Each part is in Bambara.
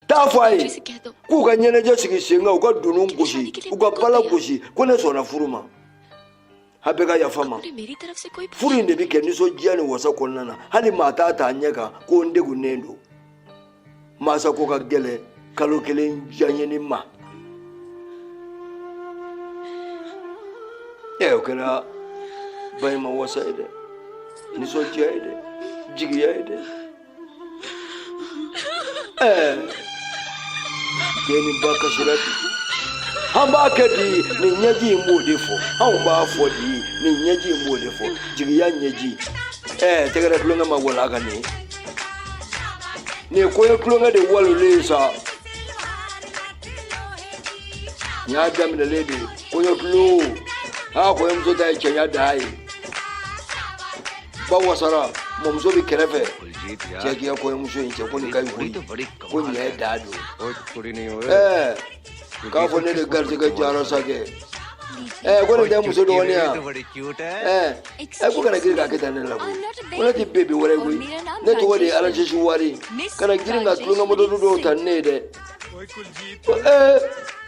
taa fɔ a ye k'u ka ɲɛnajɛ sigi sen kan u ka dunun gosi u ka bala gosi ko ne sɔnna furu ma a bɛɛ ka yafa n ma furu in de bɛ kɛ nisɔndiya ni wasa kɔnɔna na hali maa t'a ta a ɲɛ kan ko n degunnen don masako ka gɛlɛ kalo kelen janyeni ma ɛ o kɛra ba in ma wasa ye dɛ nisɔndiya ye dɛ jigiya ye dɛ Gani ba kasira ten. An b'a kɛ di nin ɲɛji in b'o de fɔ anw b'a fɔ di nin ɲɛji in b'o de fɔ jigiya ɲɛji ɛɛ tɛgɛrɛ tulonkɛ ma wala ka nin nin kɔɲɔ tulonkɛ de walolen ye sa n y'a daminɛlen de kɔɲɔ tulon aa kɔɲɔmuso ta ye cɛɲa dan ye ba wasara mɔmuso bɛ kɛrɛfɛ cɛ k'i ka kɔɲɔmuso in cɛ ko nin ka ɲi koyi ko nin ye da don ɛɛ k'a fɔ ne de garijɛgɛ diyara sa kɛ ɛɛ ko nin tɛ muso dɔgɔnin ya ɛɛ ɛ ko kana girin k'a kɛ tan ne la koyi ko ne tɛ bebi wɛrɛ ye koyi ne tɔgɔ de ye alasisi wari kana girin ka tulonkɛ moto dɔw ta ni ne ye dɛ ɛɛ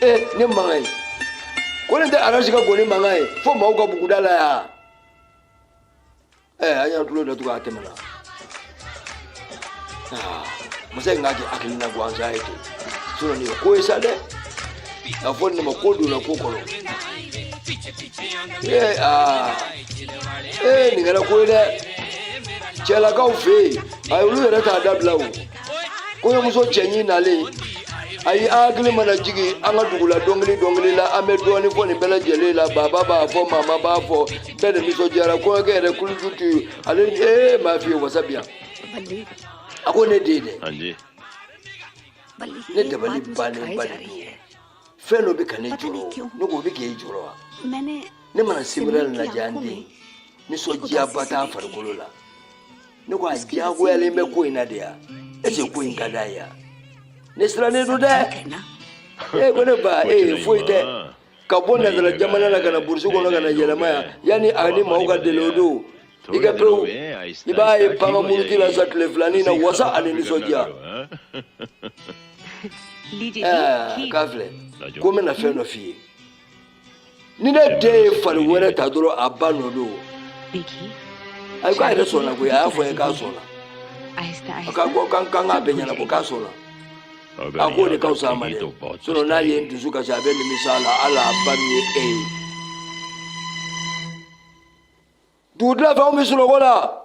eh ne mankan ye ko ne tɛ arasi ka ngɔni mankan ye fo maaw ka buguda la yan eh an y'an tulo datugu a tɛmɛna ah, masa in k'a kɛ hakilina gansan ye ten sinɔn nin ye ko ye sa dɛ a fɔ nin de ma ko donna ko kɔnɔ ee aa ee nin kɛra ko ye dɛ cɛlakaw fɛ yen a olu yɛrɛ t'a dabila o kɔɲɔmuso cɛɲi nalen a ye an hakili mana jigin an ka dugu la dɔnkili dɔnkili la an bɛ dɔɔnin fɔ nin bɛɛ lajɛlen la baba b'a fɔ mama b'a fɔ bɛɛ de nisɔndiyara kɔɲɔkɛ yɛrɛ kuluju tɛ yen ale ee m'a f'i ye wasa bi yan a ko ne den dɛ ne dabali bannen ba de don fɛn dɔ bɛ ka ne jɔrɔ ne ko o bɛ k'e jɔrɔ wa ne mana sebere lajɛ an den nisɔndiyaba t'a farikolo la ne ko a diyagoyalen bɛ ko in na de ya est ce que ko in ka d'a ye ya ne sirannen don dɛ ee ko ne ba ee foyi tɛ ka bɔ nazara jamana na ka na burusi kɔnɔ ka na yɛlɛma yan yanni a ni maaw ka deli o don i ka pewu i b'a ye panga muruti la sa tile filanin na wasa ani nisɔndiya k'a filɛ ko n bɛna fɛn dɔ f'i ye ni ne den ye fari wɛrɛ ta dɔrɔn a ba nɔ don ayi k'a yɛrɛ sɔnna koyi a y'a fɔ n ye k'a sɔnna a ka ko kan kan k'a bɛɛ ɲɛ na ko k'a sɔnna a k'o de ka fisa a ma dɛ sinɔn n'a ye n dusu kasi a bɛ nimisa a la hali a ba min ye e ye dugutila fɛ u bɛ sunɔgɔ la.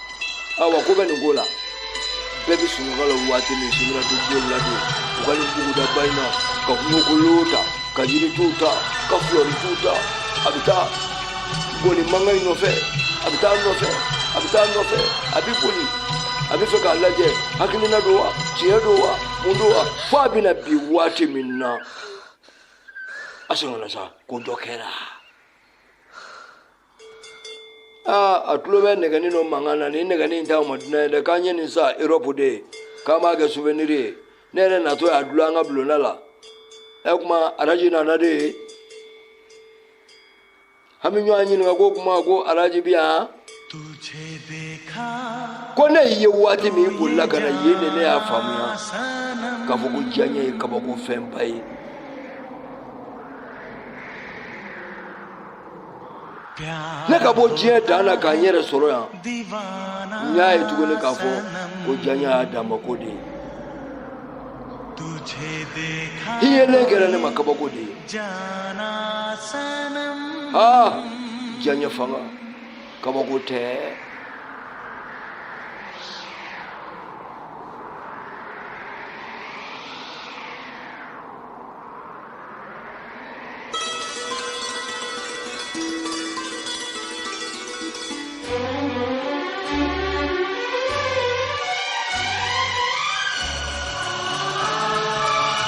awa ko bɛ nin ko la bɛɛ bɛ sunɔgɔ la waati min sunɔgɔ tɛ don la don u ka nin buguda ba in na ka kungokolo ta ka yiritu ta ka fulɔritu ta a bɛ taa ngɔni mankan in nɔfɛ a bɛ taa nɔfɛ a bɛ taa nɔfɛ a bɛ boli a bɛ fɛ k'a lajɛ hakilina don wa tiɲɛ don wa mun don wa fo a bɛna bin waati min na a sɛgɛnna sa ko dɔ kɛra. aa a tulo bɛ nɛgɛnin dɔ mankan na nin nɛgɛnin in t'aw ma dunan ye dɛ k'an ye nin san erɔpu de k'an b'a kɛ souvenir ye ne yɛrɛ natɔ y'a dulon an ka bulonda la ɛ e kuma araji nana de ye an bɛ ɲɔgɔn ɲininka ko kuma ko araji bi yan ko ne ye waati min bolila ka na yen de ne y'a faamuya k'a fɔ ko janya ye kabako fɛnba ye ne ka bɔ diɲɛ dan na ka n yɛrɛ sɔrɔ yan n y'a ye tuguni k'a fɔ ko janya y'a dama ko de ye i yelen kɛra ne ma kabako de ye aa janya fanga kabako tɛ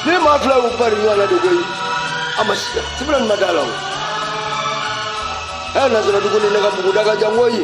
Ne ma fila ko pari ɲɔgɔn na de koyi a ma sibila n ma da a la o ɛ nasara dugu ni ne ka buguda ka jan koyi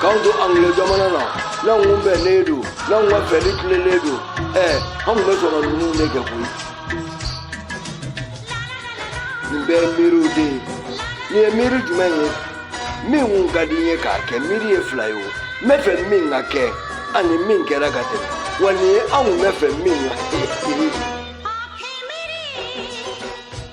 k'an to angilɛ jamana na n'an kun bɛnnen don n'an ka fɛli tilelen don ɛ an tun bɛ sɔn ka ninnu de kɛ koyi nin bɛɛ ye miiriw de ye nin ye miiri ɲuman ye min kun ka di n ye k'a kɛ miiriya fila ye o n bɛ fɛ min ka kɛ ani min kɛra ka tɛmɛ wa nin ye anw kun bɛ fɛ min ka kɛ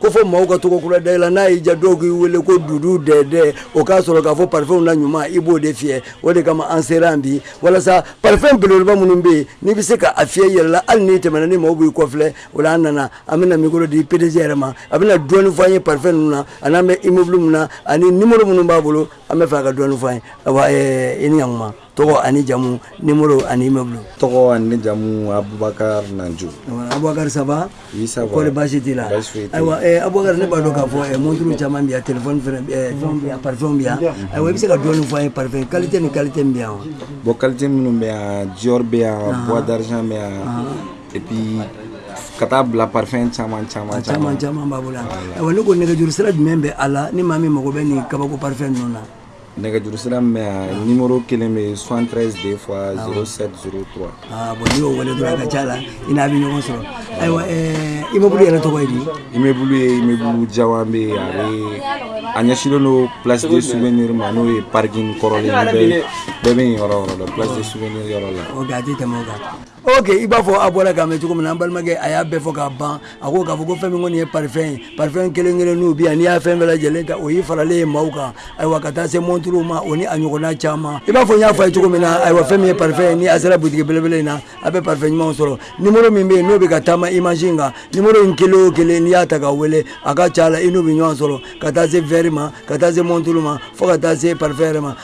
ko fɔ maaw ka tɔgɔ kura da i la n'a y'i diya dɔw k'i wele ko dudu dɛdɛ o k'a sɔrɔ k'a fɔ parfum na ɲuman i b'o de fiyɛ o de kama an sera an bi walasa parfum beleba minnu bɛ yen n'i bɛ se ka a fiyɛ i yɛrɛ la hali n'i tɛmɛna ni maaw b'i kɔfilɛ o la an nana an bɛna mikoro di PDG yɛrɛ ma a bɛna dɔɔni fɔ an ye parfum ninnu na ani n'an bɛ immeuble min na ani numéro minnu b'a bolo an bɛ fɛ ka dɔɔni fɔ an ye i ni ɲ kuma tɔgɔ ani jamu nimoro ani immeuble tɔgɔ ani jamu abubakar nanju abubakar ça va isa kɔri basi t'i la ayiwa eh, abubakar ne b'a dɔn k'a fɔ eh, monturu caman bɛ yan telefɔni fɛnɛ eh, fɛnw bɛ yan parfɛnw bɛ yan ayiwa i bɛ se ka dɔɔni fɔ an ye parfɛn qualité ni qualité min bɛ yan wa bon qualité minnu bɛ yan dior bɛ yan ah. bois d'argent bɛ yan ah. et puis ka taa bila parfɛn caman caman caman caman b'an bolo yan ayiwa ne ko nɛgɛjuru sira jumɛn bɛ a la ni maa min mago bɛ nin kabako parfɛn ninnu na nɛgɛjuru sira min bɛ yan numéro kelen bɛ yen 73 2 fois 07 03 aa bon n'i y'o wele dɔrɔn a ka c'a la i n'a bɛ ɲɔgɔn sɔrɔ ayiwa ɛɛ immeuble yɛrɛ tɔgɔ ye di immeuble ye immeuble jawanbɛ ye a bɛ a ɲɛsinnen don place de souvenir ma n'o ye parking kɔrɔlen ye bɛɛ bɛ bɛɛ bɛ yen yɔrɔ o yɔrɔ la place de souvenir yɔrɔ la ok a tɛ tɛmɛ o kan ok i b'a fɔ a bɔra k'a mɛn cogo min na an balimakɛ a y'a bɛɛ fɔ k'a ban a ko k'a fɔ ko fɛn min kɔni ye parfɛn ye parfɛn kelen kelen n'u bi yan n'i y'a fɛn bɛɛ lajɛlen ta o y'i faralen ye maaw kan ayiwa ka taa se monturuw ma o ni a ɲɔgɔnna caman i b'a fɔ n y'a fɔ a ye cogo min na ayiwa fɛn min ye parfɛn ye ni a sera butigi belebele in na a bɛ parfɛn ɲumanw sɔrɔ nimoro min bɛ yen n'o bɛ ka taama image in kan nimoro in kelen o kelen n'i y'a ta ka wele a ka ca a la i n'u bɛ ɲɔgɔn sɔrɔ ka taa se verre ma ka taa se monturu ma fo ka taa se parfɛn yɛrɛ ma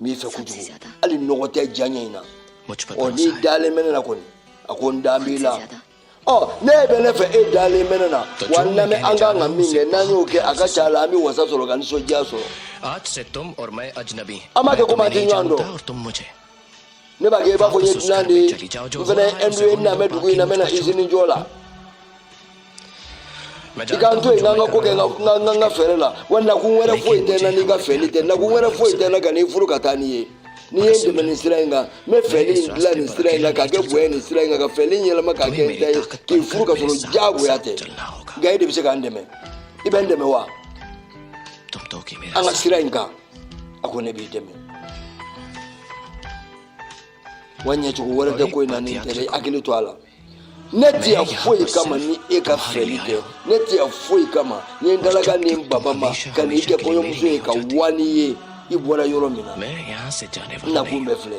n b'i fɛ kojugu hali nɔgɔ tɛ diyaɲɛ in na ɔ n'i dalen bɛ ne na kɔni a ko n da b'i la ɔ n'e bɛ ne fɛ e dalen bɛ ne na wa n lamɛn an kan ka min kɛ n'an y'o kɛ a ka ca a la an bɛ wasa sɔrɔ ka nisɔndiya sɔrɔ an b'a kɛ komi an tɛ ɲɔgɔn dɔn ne b'a kɛ i b'a fɔ n ye dunan de ye n fana ye ɛndu ye n nalen bɛ dugu in na n bɛ na izini jɔ la i ka n to yen n k'an ka ko kɛ n ka fɛɛrɛ la wa nakun wɛrɛ foyi tɛ n na n'i ka fɛɛli tɛ nakun wɛrɛ foyi tɛ n na ka n'i furu ka taa n'i ye n'i ye n dɛmɛ nin sira in kan n bɛ fɛɛli in dilan nin sira in kan k'a kɛ bonya nin sira in kan ka fɛɛli in yɛlɛma k'a kɛ n ta ye k'i furu ka sɔrɔ diyagoya tɛ nka e de bɛ se ka n dɛmɛ i bɛ n dɛmɛ wa an ka sira in kan a ko ne b'i dɛmɛ wa ɲɛcogo wɛrɛ tɛ ko in na nin tɛ dɛ hakili to a la ne tɛ yan foyi kama ni e ka fɛli tɛ ne tɛ yan foyi kama ni n dalaga ni n baba ma ka n'i kɛ kɔɲɔmuso ye ka wa n'i ye i bɔra yɔrɔ min na n nakun bɛɛ filɛ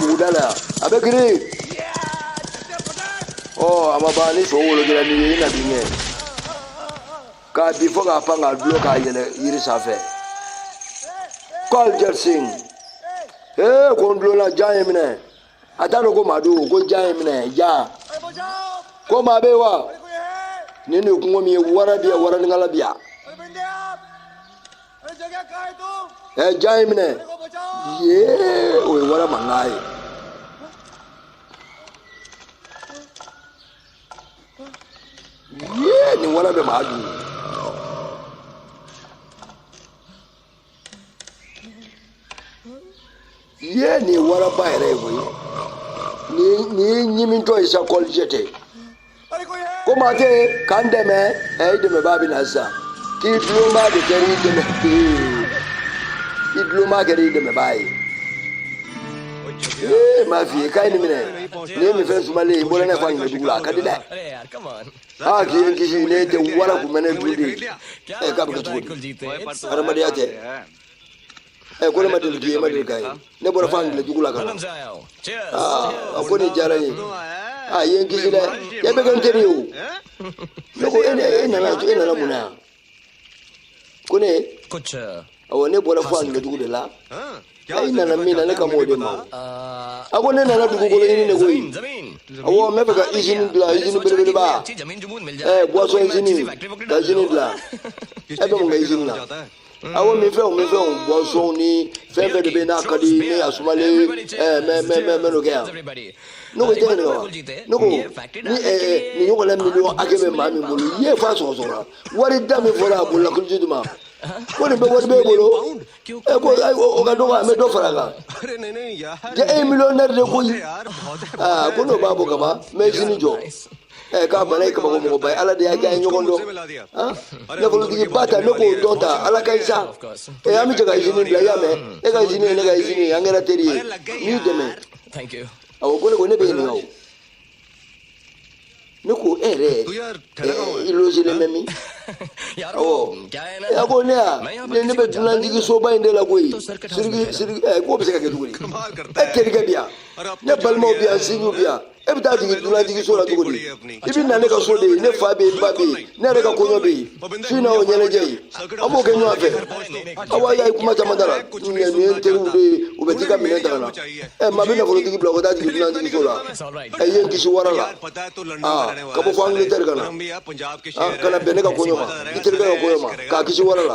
Mugudala a bɛ girin ɔ a ma ban ni so wolokira ni ye i na bin kɛ k'a bin fo k'a pan k'a dulon k'a yɛlɛ yiri sanfɛ kɔl jɛrisin ee ko n dulonna jan ye n minɛ a t'a dɔn ko maa don ko jan ye n minɛ jan ko maa bɛ yen wa nin de ye kungo min ye wara bi yan waraninkalan bi yan e jan ye n minɛ yee o ye wara mankan ye. yee nin wara bɛ maa dun. ye nin waraba yɛrɛ ye koyi nin ye ɲimitɔ ye sa kulujiti ko maa tɛ ka n dɛmɛ ɛ i dɛmɛbaa bɛ na sisan k'i dulonbaa de kɛra i dɛmɛ i dulonbaa kɛra i dɛmɛbaa ye ee n m'a f'i ye k'a ye nin minɛ nin ye minfɛn sumalen ye n bɔra n'a ye fo angilɛ dugu la a ka di dɛ aa k'i ye n kisi n'o tɛ wara kun bɛ ne dun de ye ɛ k'a bɛ kɛ cogo di hadamadenya tɛ ɛ ko ne ma deli k'i ye ma deli k'a ye ne bɔra fo angilɛ dugu la ka na aa a ko nin diyara n ye i ye n kisi dɛ e bɛ kɛ n teri ye o ne ko e e nana e nana mun na yan ko ne awɔ ne bɔra fo angilɛ dugu de la ayi i nana min na ne kan b'o de ma a ko ne nana dugukolo ɲini de koyi awɔ n bɛ fɛ ka izini dilan izini belebeleba ɛɛ buwasɔn izini ka izini dilan e bɛ mun kɛ izini na awo minfɛnw minfɛnw buwasɔnw ni fɛn fɛn de bɛ n'a ka di ne y'a sumalen ɛɛ mɛ mɛ mɛ mɛ n'o kɛ yan ne ko i tɛ ɲininka wa ne ko ni ɛɛ nin ɲɔgɔnna miliyɔn hakɛ bɛ maa min bolo i ye fa sɔrɔ sɔrɔ wari da min fɔra a bolo la kulujiti ma ko nin bɛɛ wari b'e bolo ɛ ko ayi o ka dɔgɔ an bɛ dɔ fara a kan cɛ e ye miliyɔnɛri de koyi aa ko n'o b'a bɔ ka ban n bɛ izini jɔ. ɛ k'a bana i ye kabako mɔgɔba ye ala de y'a kɛ an ye ɲɔgɔn dɔn nafolotigiba ta ne k'o dɔn ta ala ka isa ɛ an bɛ jɛ ka izini bila i y'a mɛn e ka izini ye ne ka izini ye an kɛra teri ye n y'i dɛmɛ awɔ ko ne ko ne b'i ɲininka o ne ko e yɛrɛ i lozelen bɛ min awɔ a ko ne ya ne ne bɛ dunanjigi soba in de la koyi siriki siriki ɛ k'o bɛ se ka kɛ cogo di e terikɛ bi yan ne balimaw bi yan sinjiw bi yan e bɛ taa jigin dunanjigi so la cogo di i bɛ na ne ka so de ye ne fa bɛ yen n ba bɛ yen ne yɛrɛ ka kɔɲɔ bɛ yen su in na o ɲɛnajɛ ye an b'o kɛ ɲɔgɔn fɛ awa i y'a ye kuma caman t'a la ninnu ye n teriw de ye u bɛ t'i ka minɛn ta ka na ɛ maa bɛ nafolotigi bila u ka taa jigin dunanjigi so la ɛ i ye n kisi wara la aa ka bɔ fo angilitɛri ka na ka na bɛn ne ka kɔɲɔ ma i terikɛ ka kɔɲɔ ma k'a kisi wara la